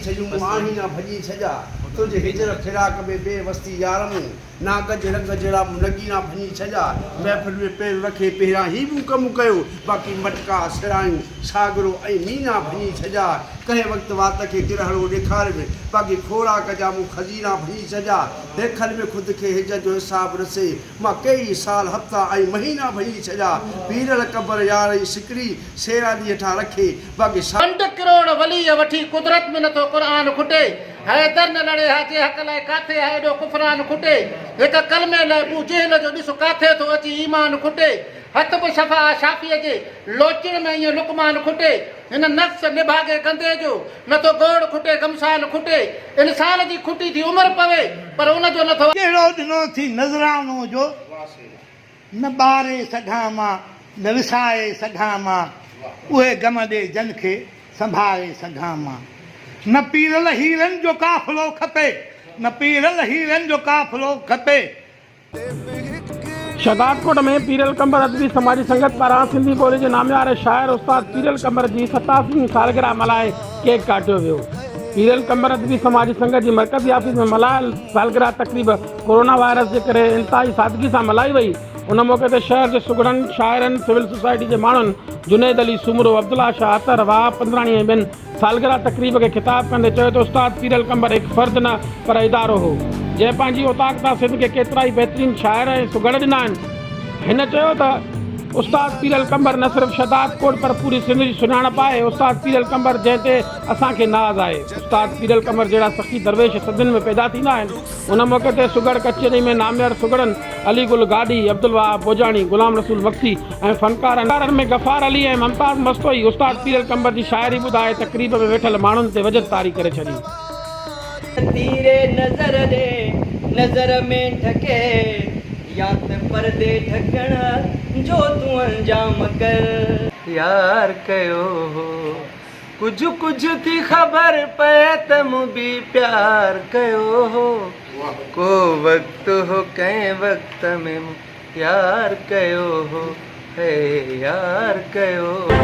ڇڄون آهين يا ڀڄي ڇڄا، تنهنجي هجر فراق ۾ بي وس ٿي يار مون، نا ڪج رنگ جهڙا مون نگين آ ڀڃي ڇڄا، محفل ۾ پير رکي پهريان هي مون ڪم ڪيو، باقي مٽڪا، سرايون، ساگرو ۽ مين آ ڀڃي ڇڄا، ڪنهن وقت وات کي ڪرهڙو ڏيکاري به، باقي خوراڪ جا مون خزينا ڀڃي ڇڄا، بيخل ۾ خود کي هجر جو حساب رسي، مان ڪيئي سال هفتا ۽ مهينا ڀڃي ڇڏيا، پيرل قبر يار ۽ سڪڙي سيراندي هيٺان رکي، باقي ساري. ڪنڊ ڪروڙ وليء وٺي قدرت ۾ نٿو قرآن کٽي حيدر نه لڙي ها جي حق لاء ڪاٿي ها ايڏو ڪفران کٽي هڪ ڪلمي لاء ابو جهل جو ڏس ڪاٿي ٿو اچي ايمان کٽي هت به شفا آ شافيء جي لوچڻ ۾ ائين لقمان کٽي هن نفس نڀاڳي گندي جو نه ٿو گوڙ کٽي گمسان کٽي. انسان جي کٽي ٿي عمر پوي پر ان جو نه ٿو. ڪهڙو ڏنو ٿي نذرانو جو نه ٻاري سگهان مان نه وساري سگهان مان اهي غم ڏي جن کي سنڀاري سگهان مان نه پيرل هيرن جو قافلو کپي نه پيرل هيرن جو قافلو کپي. شهدادڪوٽ ۾ پيرل ڪنڀر ادبي سماجي سنگت پاران سنڌي ٻولي جي نامياري شاعر استاد پيرل ڪنڀر جي ستاسي هين سالگرهه ملهائي ڪيڪ ڪاٽيو ويو. پيرل ڪنڀر ادبي سماجي سنگت جي مرڪزي آفيس ۾ ملهايل سالگرهه تقريب ڪورونا وائرس جي ڪري انتهائي سادگي سان ملهائي وئي. ان موقعي تي شهر جي سگهڙن شاعرن، سول سوسائٽي جي ماڻهن، جنيد علي سومرو، عبدالله شاهه اطهر، وهاب پندراڻي ۽ ٻين سالگرهه تقريب کي خطاب ڪندي چيو ته استاد پير القمبر هڪ فرد نه پر ادارو هو، جنهن پنهنجي اوطاق تان سنڌ کي ڪيترائي بهترين شاعر ۽ سگهڙ ڏنا آهن. هن چيو ته استاد پير القمبر نه صرف شهداد ڪوٽ پر پوري سنڌ جي سڃاڻپ آهي، استاد پير القمبر جنهن تي اسان کي ناز آهي. استاد پير القمر جهڙا سخي درويش سنڌين ۾ پيدا ٿيندا آهن. ان موقعي تي سگهڙ ڪچهري ۾ ناميار سگهڙن علي گل گاڏهي، عبدالوهاب ڀوڄاڻي، غلام رسول مگسي ۽ فنڪارن ۾ غفار علي ۽ ممتاز مستوئي استاد پيرل قنبر جي شاعري ٻڌائي تقريب ۾ ويٺل ماڻهن تي وجد طاري ڪري ڇڏي. تير نظر ڏي نظر ۾ ڍڪي يا ته پردي ڍڪڻ جو تون انجام ڪر. يار ڪيو هو ڪجهه ڪجهه ٿي خبر پئي ته مون به پيار ڪيو هو ڪو وقت هو ڪنهن وقت ۾ مون يار ڪيو هو هي يار ڪيو هو.